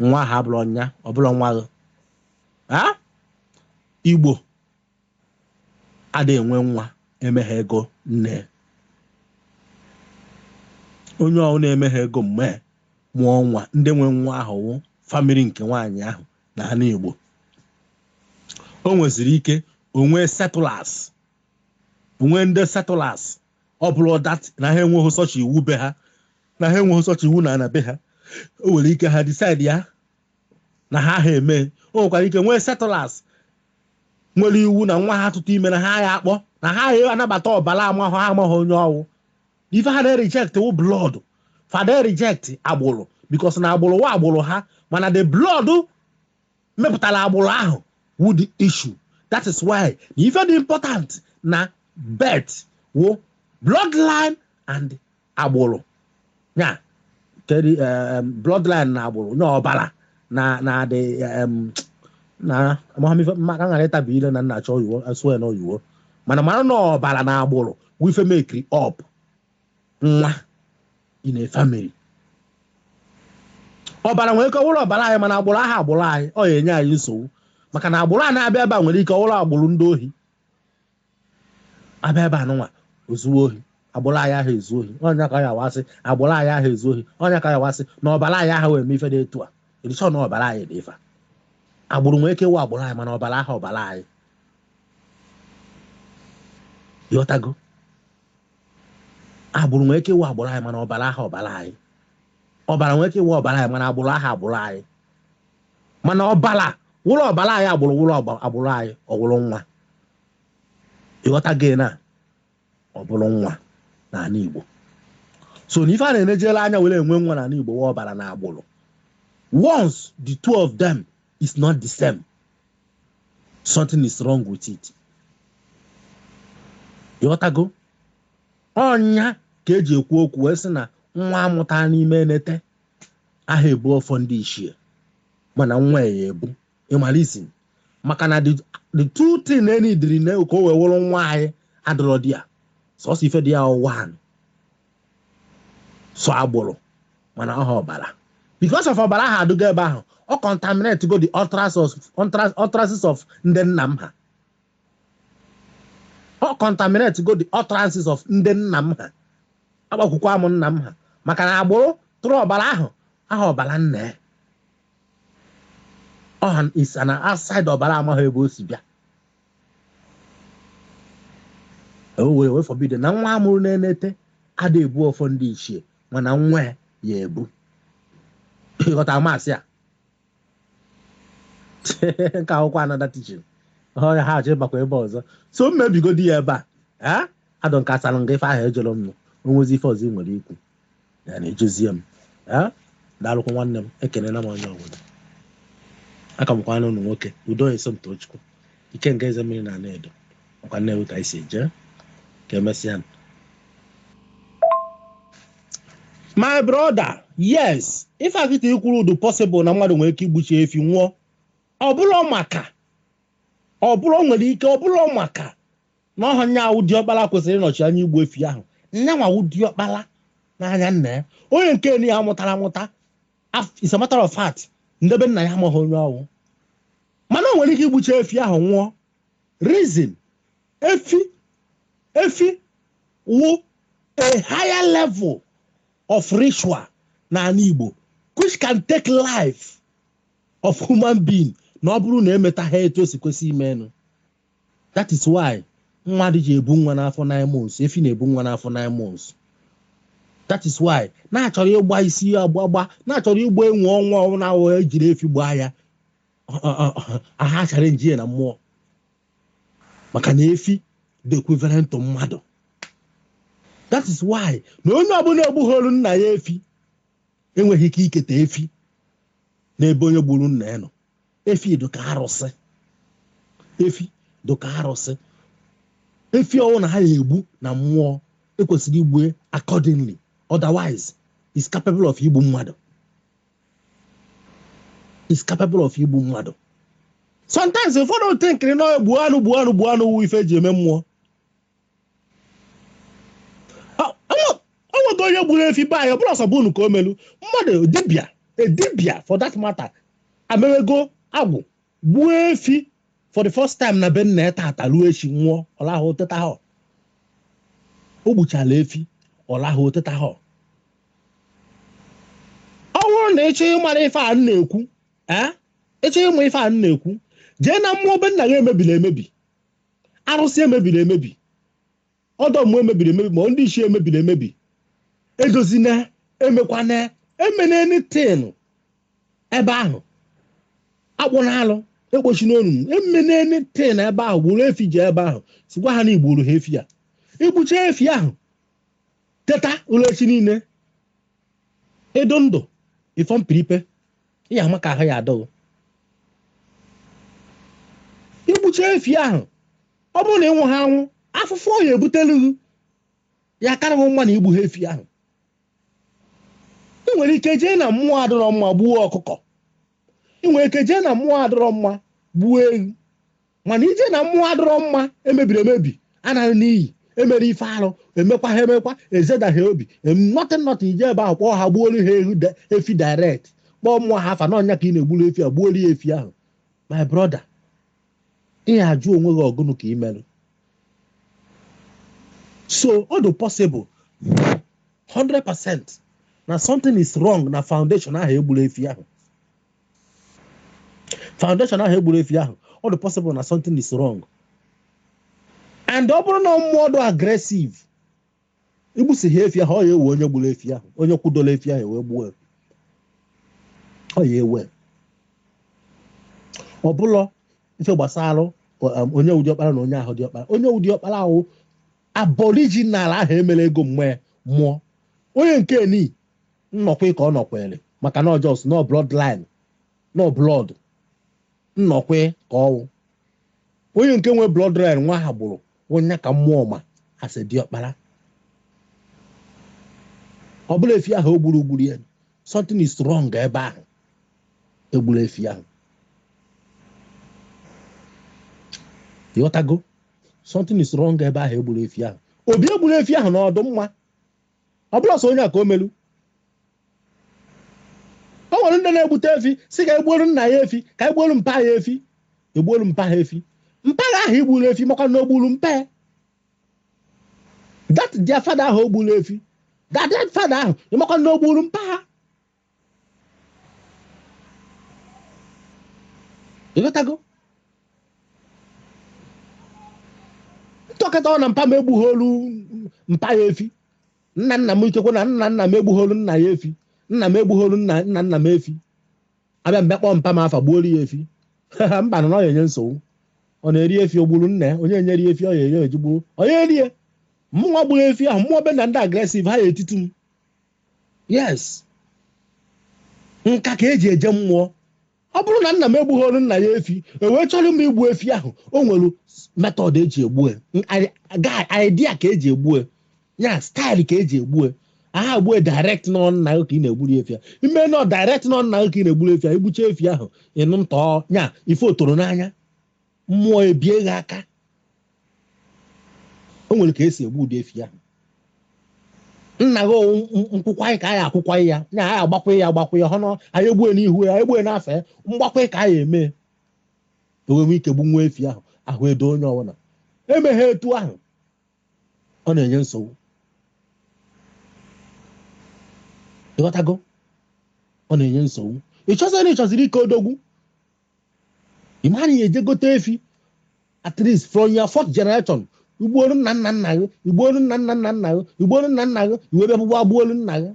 nwa ahụ abụla ya ọ bụla nwa gị igbo adịghị enwe nwa emeghị ego nne onye ọwụna emeghị ego mgbe mụọ nwa ndị nwe nwa ahụ wụ family nke nwaanyị ahụ na anị igbo o nweziri ike o nwee settlers o nwee ndị settlers ọ bụrụ that na ha enweghị such iwu be ha na ha enweghị such iwu na ana be ha o nwere ike ha decide ya na ha ha eme o nwekwara ike nwee settlers nwere iwu na nwa ha tụtụ ime na ha ya akpọ na ha ya anabata ọbara amahụ ha amaghị onye ọ wụ ife ha na-reject wụ blood fa ada reject agbụrụ because na agbụrụ wụ agbụrụ ha mana the blood mepụtara agbụrụ ahụ wụ the issue that is why na ife dị important na birth wụ bloodline and agbụrụ ya kedu eh, bloodline na agbụrụ nye ọbara na na adị eh, na amamife maka m ghara ịtabi ile na m na-achọ oyiwo asụọ ya na oyiwo mana mara na ọbara na agbụrụ wụ ife mekiri up nwa in a family ọbara nwere ike ọ wụrụ ọbara anyị mana agbụrụ aha agbụrụ anyị ọ ya-enye anyị nsogbu maka na agbụrụ a na-abịa ebe a nwere ike ọ wụrụ agbụrụ ndị ohi abịa ebe anụnwa o zuo ohi agbụrụ anyị aha ezu ohi onye ka ya wasị agbụrụ anyị aha ezu ohi onye ka ya wasị na ọbara anyị aha eme ife dị etu a edichọ na ọbara anyị dị ife agbụrụ nwere ike ịwụ agbụrụ anyị mana ọbara aha ọbara anyị ịghọtago agbụrụ nwere ike ịwụ agbụrụ anyị mana ọbara aha ọbara anyị ọbara nwere ike ịwụ ọbara anyị mana agbụrụ aha agbụrụ anyị mana ọbara wụrụ ọbara anyị agbụrụ wụrụ agbụrụ anyị ọ wụrụ nwa ịghọtago na ọ bụrụ nwa n'ala Igbo so na ife a na-enejela anya were enwe nwa n'ala Igbo wụ ọbara na agbụrụ once the two of them is not the same something is wrong with it ịghọtago ọnya ka e ji ekwu okwu wee sị na nwa a mụta n'ime enete aha ebu ọfọ ndị ichie mana nwa ya-ebu ịmalizin maka na the two thing na-enidiri na ka o wee wụrụ nwa anyị adịrọ dị ya sọsọ ife dị ya wụ one so agbụrụ mana ọha ọbara because of ọbara ahụ adụgo ebe ahụ ọ contaminate go the utterances of ndị nna m ha ọ contaminate go the utterances of ndị nna m ha agbakwukwa m nna m ha maka na agbụrụ tụrụ ọbara ahụ aha ọbara nna ya ọ is an outside ọbara amaghị ebe o si bịa e were wee forbid na nwa a mụrụ n'enete ada ebu ọfọ ndị ichie mana nwa ya-ebu ịghọta amasị a nke a wụkwa another teaching ọhịa ha achọ ịbakwa ebe ọzọ so m mebigodi ya ebe a ọ dụ m ka asara m gị ife ahụ ị jụrụ m o nwezi ife ọzọ ị nwere ikwu ya na ejezie m daalụkwa nwanne m ekenela m onye ọbụla aka m kwa nwa ụnụ nwoke Udo Esomtochukwu Ikenga Ezemmiri na Anaedo ọkwa Nnewi ka anyị si eje ka emesịa my brother yes ife a kịta i kwuru ọ dụ possible na mmadụ nwere ike igbuchi efi nwụọ ọ bụrụ maka ọ bụrụ nwere ike ọ bụrụ maka na ọha nya awụ diọkpala kwesịrị ịnọchi anya igbu efi ahụ nyanwa wụ diọkpala n'anya nna ya onye nke na ya mụtara amụta as a matter of fact nde be nna ya amaghị onye ọwụ mana o nwere ike igbucha efi ahụ nwụọ reason efi efi wụ a higher level of ritual n'ala Igbo which can take life of human being na ọ bụrụ na emetaha etu o si kwesị imenụ That is why mmadụ ji ebu nwa n'afọ nine months efi na-ebu nwa n'afọ nine months that is why na-achọrọ ịgba isi agbagba na-achọrọ ịgba enwe ọnwa ọnwa ahụ ejiri efi gbaa ya aha achara njiye na mmụọ maka na efi dị equivalent to mmadụ that is why na onye ọbụla egbugholu nna ya efi enweghị ike iketa efi n'ebe onye gburu nna ya nọ efi dị ka arụsị efi dị ka arụsị efi ọwụna a ya-egbu na mmụọ ekwesịrị igbue accordingly otherwise is capable of igbu mmadụ is capable of igbu mmadụ sometimes ụfọdụ thinkiri na gbuo anụ gbuo anụ gbuo anụ wụ ife eji eme mmụọ o nwego onye gburu efi be anyị ọbụla ọsọbụ unu ka o melu mmadụ dibịa a dibịa for that matter amewego agwụ gbuo efi for the first time na be nna ya tata ruo echi nwụọ ọ lahụ tetaha o gbuchala efi ọ lahụ tetaha ọ bụrụ na ị chọọ ịmara ife a na-ekwu ị chọọ ịma ife a na-ekwu jee na mmụọ be nna ya emebiri emebi arụsị emebiri emebi ọdọ mmụọ emebiri emebi ma ndị ichie emebiri emebi edozina emekwana emena anything ebe ahụ akpụna alụ ekpochina onu emena anything ebe ahụ buru efi jee ebe ahụ sịkwa ha na i gburu ha efi ya i gbucha efi ahụ teta ụla echi niile ị dụ ndụ before mpiripe ị ya-ama ka ahụ ya-adụ ghị i gbucha efi ahụ ọ bụrụ na ị nwụha anwụ afụfụ ọ ya-ebutelu ghị ya karị ghị mma na i gbuha efi ahụ ị nwere ike jee na mmụọ adịrọ mma gbuo ọkụkọ ị nwere ike jee na mmụọ adịrọ mma gbuo ewu mana i jee na mmụọ adịrọ mma emebiri emebi anara n'iyi emere ife arụ emekwaha emekwa ezedaha obi nothing nothing i jee ebe ahụ kpọọ ha gbuolu ha ehu da- efi direct kpọọ mmụọ ha afa na ọ nya ka ị na-egburu efi a gbuolu ya efi ahụ my brother ị ya-ajụ onwe gị ọ gụnụ ka ị merụ so ọ dị possible 100% na something is wrong na foundation ahụ egburu efi ahụ foundation ahụ egburu efi ahụ ọ dị possible na something is wrong and ọ bụrụ na mmụọ dị aggressive igbusịa efi ahụ ọ ya ewe onye gburu efi ahụ onye kwudola efi ahụ wee gbuo ọ ya ewe ọ bụlụ ife gbasara um, onye wụ diọkpara na onye ahụ diọkpara onye wụ diọkpara wụ aboriginal ahụ emere ego wee mụọ onye nke ni nnọkwa ka ọ nọkwere maka na ọ just nọ bloodline nọ blood nnọkwa ka ọ wụ onye nke nwe bloodline nwa ha gburu wụ ya ka mmụọ ma as diọkpara ọ bụrụ na efi ahụ egburu gburu ya something is wrong ebe ahụ egburu efi ahụ ịghọtago something is wrong ebe ahụ egburu efi ahụ obi egburu efi ahụ na ọ dị mma ọ bụrụ sọ onye a ka o melu o nwere ndị na-egbute efi sị ka egbuolu nna ya efi ka egbuolu mpa ya efi egbuolu mpa ha efi mpa ha ahụ igburu efi ịmakwa na o gburu mpa ya that their father ahụ o gburu efi that father ahụ ịmakwa na o gburu mpa ha ịghọtago ntọkata ọ na mpa m egbugholu mpa ya efi nna nna m ikekwe na nna nna m egbugholu nna ya efi nna m egbugholu nna nna nna m efi abịa m bịa kpọọ mpa m afa gbuolu ya efi mba na ọ na-enye nsogbu ọ na-eri efi o gburu nna ya onye nyere ya efi ọ ya eri ojigbuo onye rie mụwa gburu efi ahụ mmụọ be na ndị aggressive ha ya etiti m yes nka ka eji eje mmụọ ọ bụrụ na nna m egbugholu nna ya efi ewee chọrọ m igbu efi ahụ o nwere method eji egbu idea ka eji egbu ya style ka eji egbu a ha egbue direct na ọ nna gị ka ị na-egburu efi ya ime nọ direct na ọ nna gị ka ị na-egburu efi ya igbucha efi ahụ ịnụ ntọ ya ife otoro n'anya mmụọ ebie gị aka o nwere ka esi egbu ụdị efi ahụ nna gị ọ wụ nkwụkwa anyị ka anyị akwụkwa ya na anyị agbakwa ya agbakwa ya hụ na anyị egbue n'ihu ya egbue n'afa ya mgbakwa ka anyị eme enwewe ike gbu nwa efi ahụ ahụ edo onye ọbụla emeghe etu ahụ ọ na-enye nsogbu ịghọtago ọ na-enye nsogbu ịchọziri ịchọziri ike odogwu ịma na ị ya eje gote efi at least from your fourth generation igbuolu nna nna nna gị igbuolu nna nna nna nna gị igbuolu nna nna gị i wee bịa ugbua gbuolu nna gị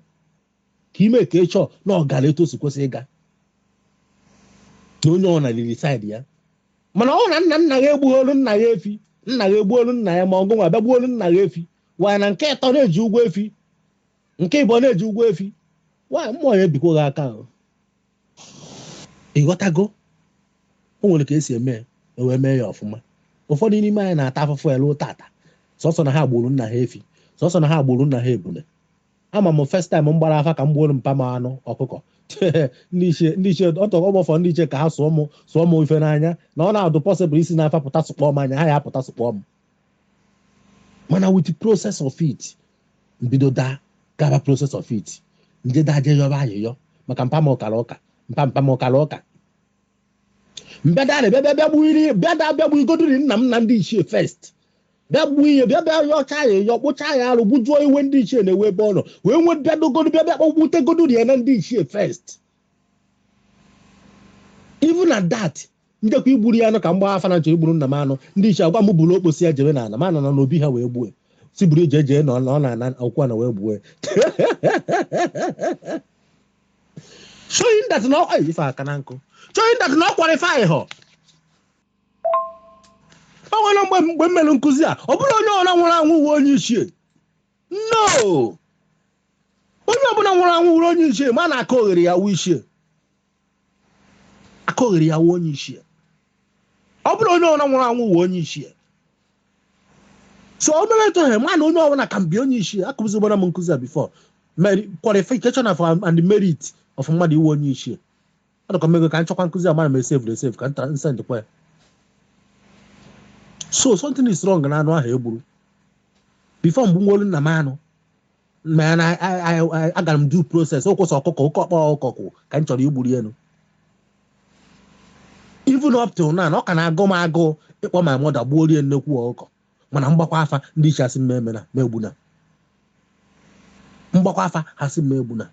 ka ime ka ịchọ na ọ gara etu o si kwesị ịga na onye ọna riri side ya mana ọ na nna nna gị egbugholu nna ya efi nna gị egbuolu nna ya ma ọ gị nwa bịa gbuolu nna gị efi waya na nke ịtọ na-eji ụgwọ efi nke ịbọ na-eji ụgwọ efi waya mmụọ ya ebikwa gị aka ahụ ịghọtago o nwere ka esi eme ewee mee ya ọfụma ụfọdụ n'ime anyị na-ata afụfụ elu tata sọsọ na ha gburu nna ha efi sọsọ na ha gburu nna ha ebule ama m first time m gbara afa ka m gbuoro mpa m anụ ọkụkọ ndị ichie ndị ichie ọtọ ọgbọfọ ndị ichie ka ha sụọ m sụọ m ife n'anya na ọ na-adụ possible isi n'afa pụta sụkpọọ m anya ha ya apụta sụkpọọ m mana with the process of it m bido daa gaba process of it m je daa jee yọba ayịyọ maka mpa m ọ kara ụka mpa mpa m ọ kara ụka m bịa daa na bịa bịa bịa gbuiri bịa daa bịa gbuigodiri nna m na ndị ichie first bịa gbuo ihe bịa bịa yọcha ayịyọ kpụcha ya arụ gbujuo iwe ndị ichie na-ewe ebe ọ nọ wee nwee bịa dogodo bịa bịa kpọgbutegodo ya na ndị ichie first even at that m jekwa igburu ya anụ ka m gba afa na m chọ igburu nna m anụ ndị ichie agwa m buru okposi ya jebe n'ala ma nọ na n'obi ha wee gbue sị buru ije jee na ọ na- ọ na-ana akwụkwọ na wee gbue showing that na ọ- ay, ife aka na nkụ showing that na ọ qualify họ o nwere mgbe mgbe m mere nkụzi a ọ bụ na onye ọbụla nwụrụ anwụ wụ onye ichie no onye ọbụla nwụrụ anwụ wụrụ onye ichie ma na akaogheri ya-awụ ichie akaogheri ya-awụ onye ichie ọ bụrụ na onye ọbụla nwụrụ anwụ wụ onye ichie so o mere etu ahụ ma na onye ọbụla ka mbi onye ichie akụzigbara m nkụzi a before qualification of and merit of mmadụ ịwụ onye ichie ọ dịkwa m ego ka m chọkwa nkụzi amara m esevuru esevu ka nta nsendịkwa ya so something is wrong na anụ ahụ egburu before m gbuworo nna m anụ mana agara m due process ọ wụ sọ ọkụkọ oke ọkpa ọkụkọ ka m chọrọ igburu ya anụ even up till now na ọ ka na-agụ m agụụ ịkpọ my mother gbuoro ya nnekwu ọkụkọ mana m gbakwa afa ndị ichie asị m mụ emena mụ egbuna m gbakwa afa ha sị m mụ egbuna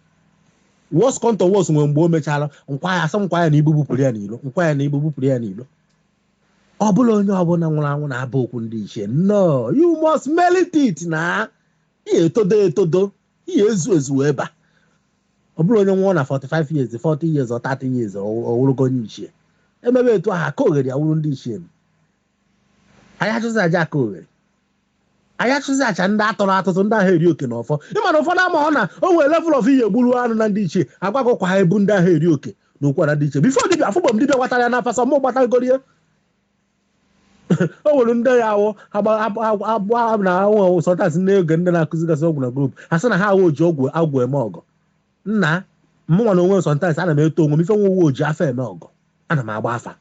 worst come to worst o nwere mgbe o mechara m kwa ya asị m kwa ya na ibu bupụrụ ya n'ilo m kwa ya na ibu bupụrụ ya n'ilo ọ bụ na onye ọbụla nwụrụ anwụ na-aba okwu ndị ichie no you must merit it na i ya-etodo etodo i ya-ezu ezu wee ba ọ bụrụ onye nwụọ na 45 years 40 years or 30 years ọ wụrụgo onye ichie emebe etu ahụ akaogheri ya-awụrụ ndị ichie m anyị achụzi aja akaogheri anyị achụzi aja ndị atọrọ atụtụ ndị ahụ eri oke na ọfọ ị ma na ụfọdụ amahọ na o nwere level of ihe gburu anụ na ndị ichie agwago kwa ha ebu ndị ahụ eri oke na ụkwara ndị ichie before dibịa afụgbọ m dibịa gbatara ya n'afa sọ mụ gbatagoro ya o nwere ndị ya awụ abụ na awụ sọtas n'oge ndị na-akụzigasị ọgwụ na group ha sị na ha awụ oji ọgwụ agwụ eme ọgwụ nna mụnwa na onwe sometimes ana m eto onwe m ife m wee wụ oji afa eme ọgọ ana m agba afa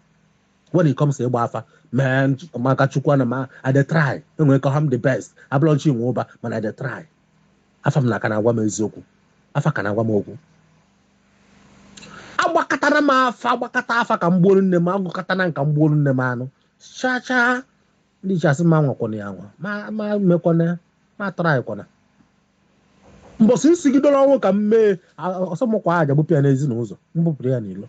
when it comes to ịgba afa mee maka chukwu ana m I dey try enwere ka ha m the best abụrọ m chi nwe ụba mana I dey try afa m na-aka na-agwa m eziokwu afa ka na-agwa m okwu agbakatara m afa agbakata afa ka m gbuoro nne m agụkọta na ka m gbuoro nne m anụ chaa chaa ndị ichie asị m anwakwana ya anwa m emekwana m atrykwana mbọsị m sigidoro ọnwụ ka m mee ọsọ m kwa aja bupụ ya n'ezi na ụzọ m bupụrụ ya n'ilo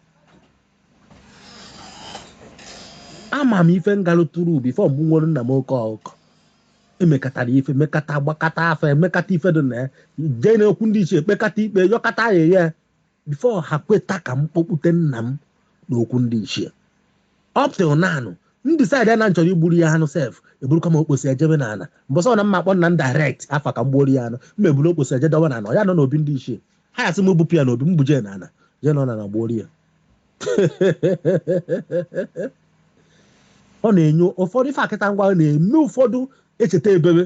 ama m ife m galụtụrụ before m gbuwere nna m oke ọkụkọ emekatara ife mekata gbakata afa emekata ife dị na ya jee na okwu ndị ichie ekpekata ikpe yọkata ayịyọ before ha kweta ka m kpọkpute nna m n'okwu ndị ichie up till now m decide na m chọrọ igburu ya anụ sef eburukwa m okposi ejebe na ana mbọsị ọ na m ma akpọ nna m direct afa ka m gbuoro ya anụ m eburu okposi eje dọwa na ana ya nọ n'obi ndị ichie ha asị m bupụ ya n'obi m buje na ana je nọ na ana gbuoro ya ọ na-enye ụfọdụ ife a kịta ngwa na-eme ụfọdụ echeta ebebe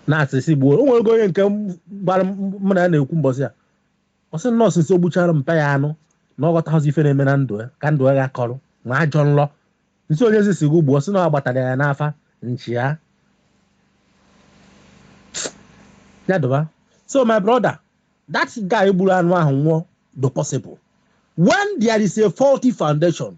na a sị sị gbuo o nwere onye nke gbara mụ na ya na-ekwu mbọsị ya ọ sị na since o gbuchara mpa ya anụ na ọ ghọtaghịzi ife na-eme na ndụ ya ka ndụ ya kọrọ ma ajọ nlọ m sị onyezi sị gị gbuo ọ sị na ọ gbatara ya n'afa nchi ya ya dụba so my brother that guy gburu anụ ahụ nwụọ ọ dị possible when there is a faulty foundation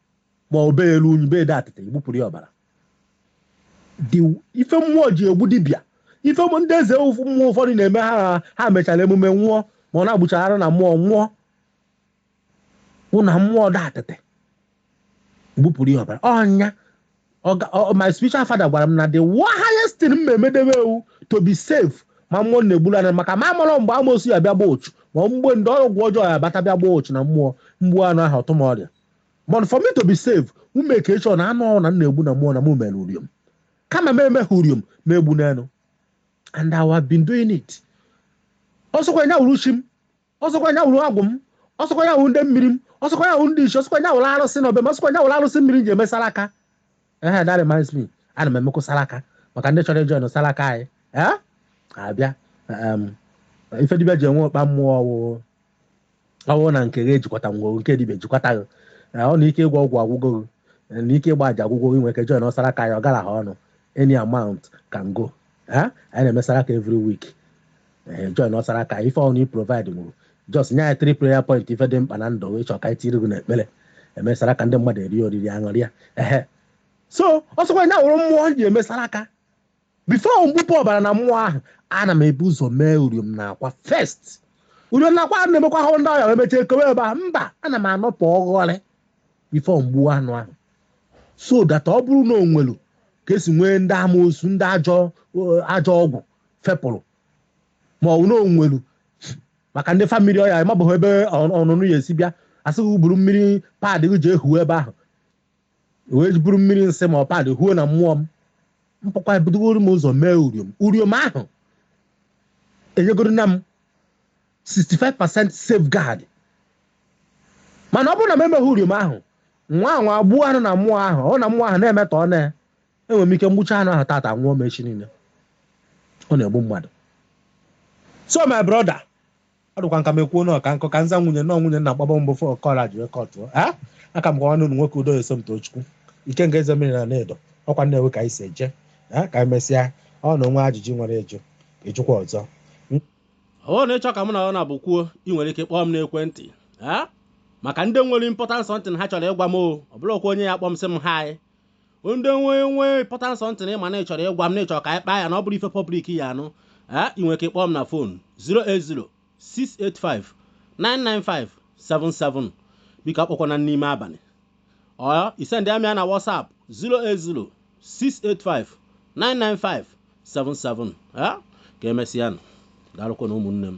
ma ọ bee elu unyi bee adị atịtị i gbupụrụ ya ọbara ife mmụọ ji egbu dibịa ife ụmụ ndị eze mmụọ ụfọdụ na-eme ha ha mechara emume nwụọ ma ọ na-agbuchara anụ na mmụọ nwụọ bụ na mmụọ dị atịtị gbupụrụ ya ọbara ọ nya my spiritual father gwara m na the highest thing m emedebe wụ to be safe ma mmụọ na-egburu anya maka m amarọ mgbe amosu ya bịa gba ochu ma mgbe ndị ọgwụ ọjọọ ya bata bịa gba ochu na mmụọ m gbuo anụ ahụ ọ tụ m ọrịa but for me to be safe m make sure na anụ ọ wụna m na-egbu na mmụọ na mụ mere uriom kama m emeghị uriom m egbuo n'elu and I have been doing it ọsọkwa nya wuru chi m ọsọkwa nya wuru agwụ m ọsọkwa nya wuru ndị mmiri m ọsọkwa nya wuru ndị ichie ọsọkwa nya wuru arụsị na obi m ọsọkwa nya wuru arụsị mmiri m ji eme salaka ehe that reminds me ana m emekwa salaka maka ndị chọrọ ịjoin salaka anyị ee abịa um, ife dibịa ji enwe ọkpa mmụọ ọ wụ ọ bụrụ na nke gị ejikwata ngwọrụ nke dibia ejikwata gị eh, ọ na ike ịgwọ ọgwụ agwụgo gị eh, na ike ịgba aja agwụgo gị nwere ike join salaka anyị ọ garaha ọnụ any amount can go Eh, anyị na-eme salaka every week Eh, join salaka ife ọ wụna i provide nwuru just nye anyị three prayer point ife dị mkpa na ndụ gị ị chọọ ka anyị tiri gị n'ekpere eme salaka ndị mmadụ eri oriri aṅụrịa ehe so ọsọkwa nya wụrụ mmụọ ji eme salaka before m gbupụ ọbara na mmụọ ahụ ana m ebu ụzọ mee uriom na akwa first uriom na akwa a na-emekwa ahụ ndị ọya wee mechie kowe ebe a mba ana m anọpụ ọghọrị before m gbuo anụ ahụ so that ọ bụrụ na o nwelu ka e si nwee ndị amoosu ndị ajọ ọgwụ fepụrụ ma ọ bụ na o nwelu maka ndị family ọya ma ọ bụ ebe ọnụnụ ya esi bịa asị buru mmiri pad gị ji ehu ebe ahụ wee buru mmiri nsị ma ọ pad huo na mmụọ m mpụkwa ebudogoro m ụzọ mee uriom uriom ahụ enyegoro na m 65% safeguard mana ọ bụrụ na m emeghị uriom ahụ nwa wee gbuo anụ na mmụọ ahụ ọ na mmụọ ahụ na-emetọ ọ na enwere m ike m gbucha anụ ahụ tata nwụọ m echi niile ọ na-egbu mmadụ so my brother ọ dịkwa ka m kwuo na ọka nkụ ka nza nwunye nọ nwunye nna gbaba mbụ fọ kọra jụrụ ka ọ tụọ a aka m bụ nwanne unu nwoke udo Somtochukwu Ikenga eze mmiri na Anaedo ọkwa Nnewi ka anyị si eje a ka anyị mesịa ọ na o nwe ajụjụ i nwere ịjụkwa ọzọ ọ bụrụ na ị chọ ka mụ na gị naabọ kwuo ị nwere ike kpọọ m n'ekwentị a maka ndị nwere important something ha chọrọ ịgwa m o ọ bụrọkwa onye ya-akpọ m sị m hi ndị nwe nwe important something ị ma na ị chọrọ ịgwa m na ị chọrọ ka anyị kpaa ya na ọ bụrọ ife public ya-anụ ee ị nwere ike kpọọ m na phone 08068599577 biko akpọkwana n'ime abalị or ị sendịa m ya na WhatsApp 08068599577 ee ka emesịanụ daalụkwanụ ụmụnne m